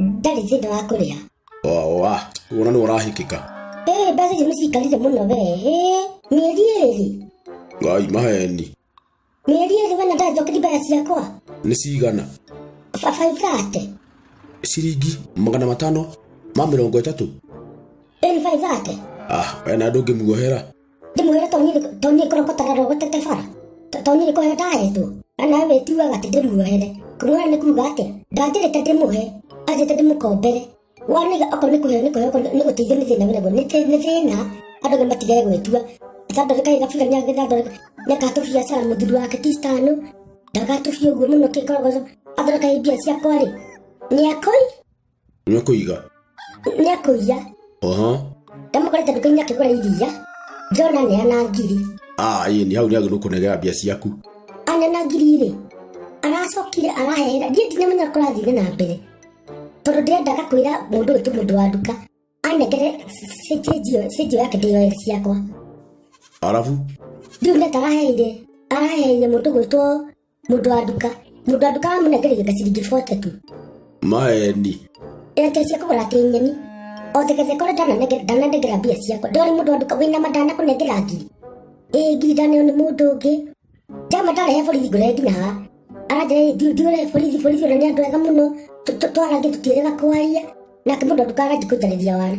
ndarĩ thĩna wa kũrĩha oa kuona nĩ ũrahikĩka ĩĩ mbeca icio nĩcikarire mũno wee ĩĩ mĩeri ĩrĩ ngai maheni mĩeri ĩrĩ wena ndathokiri mbeca ciakwa nĩ cigana babaithate ciringi magana matano ma mĩrongo ĩtatũ ĩni baithate ah wena ndũngĩmuohera Ndĩ mwĩra to niĩ kũrokotara rogo tete bara. To niĩ kũhe ndahetwo. Na nawe wĩtuaga atĩ ndĩmuohere. Kũmuohera nĩ kuuga atĩ ndanjĩrĩte ndĩmũhe. Anjĩte ndĩmũkombere. Wanĩga okorwo nĩ kũheo nĩ kũheo okorwo nĩ gũteithio nĩ thĩna wĩnaguo nĩ thĩ- nĩ thĩna. Andũ nĩ matige gwĩtua. Athandũrĩka higa biga nĩ agĩthandũrĩka. Nĩ akatũbia cara mũthuri wake ti citano. Ndagatũbia ũguo mũno kĩkorogoco. Athondeka mbia ciakwa rĩ. Nĩ akoi. Nĩ kũiga. Nĩ akũiya. Oho. Ndamũkorete nduka-inĩ akĩgũra iria. Njona nĩ ana ngiri. Ah, ĩĩ nĩ hau nĩ agĩrĩirwo kũnegera mbia ciaku. Anena ngiri rĩ, aracokire arahehera. Ndiĩ ndinamenya kũrathire na mbere. Tondũ ndiendaga kwĩra mũndũ ũyũ ti mũndũ wa nduka. Anengere cĩnjio yake ndĩyoere ciakwa. Arabu? Ndiũ nĩ ataraheire. Araheire mũndũ gwĩtwo Mũndũ wa nduka. Mũndũ wa nduka amũnengereire gaciringi bwa tatu. Maeni. Ĩreke cia kũgũra kĩnyeni. O thegetheka ũrĩa ndananengera ndananengera mbia ciakwa. Ndĩrona mũndũ wa nduka wĩna madana kũnengera ngiri. Ĩ ngiri ndaneo nĩ mũndũ ũngĩ. Jama ndarehe borithi ngũrehe nginya haha. Aranjĩra "Ĩ, thiĩ thiĩ ũrehe borithi borithi ũrĩa nĩ andũ ega mũno. Tũ- tũ- Twarangie tũtiĩrĩga kwaria. Nake mũndũ wa nduka aranjikũnjarĩria wana.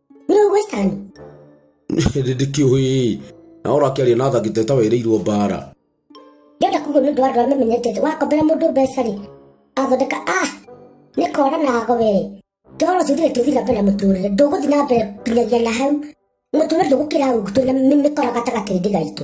Bro, Western. Ndĩndĩki ũhĩĩ. Na ũra akĩaria na athaki teta wĩrĩirwo mbara. Ndĩrenda kuga nĩ ũndũ wa andũ arĩa mamenyete wakombera mũndũ mbeca rĩ athondeka ah nĩ kora nago we toro ũcio thire tũthiĩ na mbere na mũtũrĩre ndũgũthiĩ na mbere nginyagia na hau mũtũrĩre ndũgũkĩra ũguo tũrĩ na mĩkora gatagatĩ-inĩ gaitũ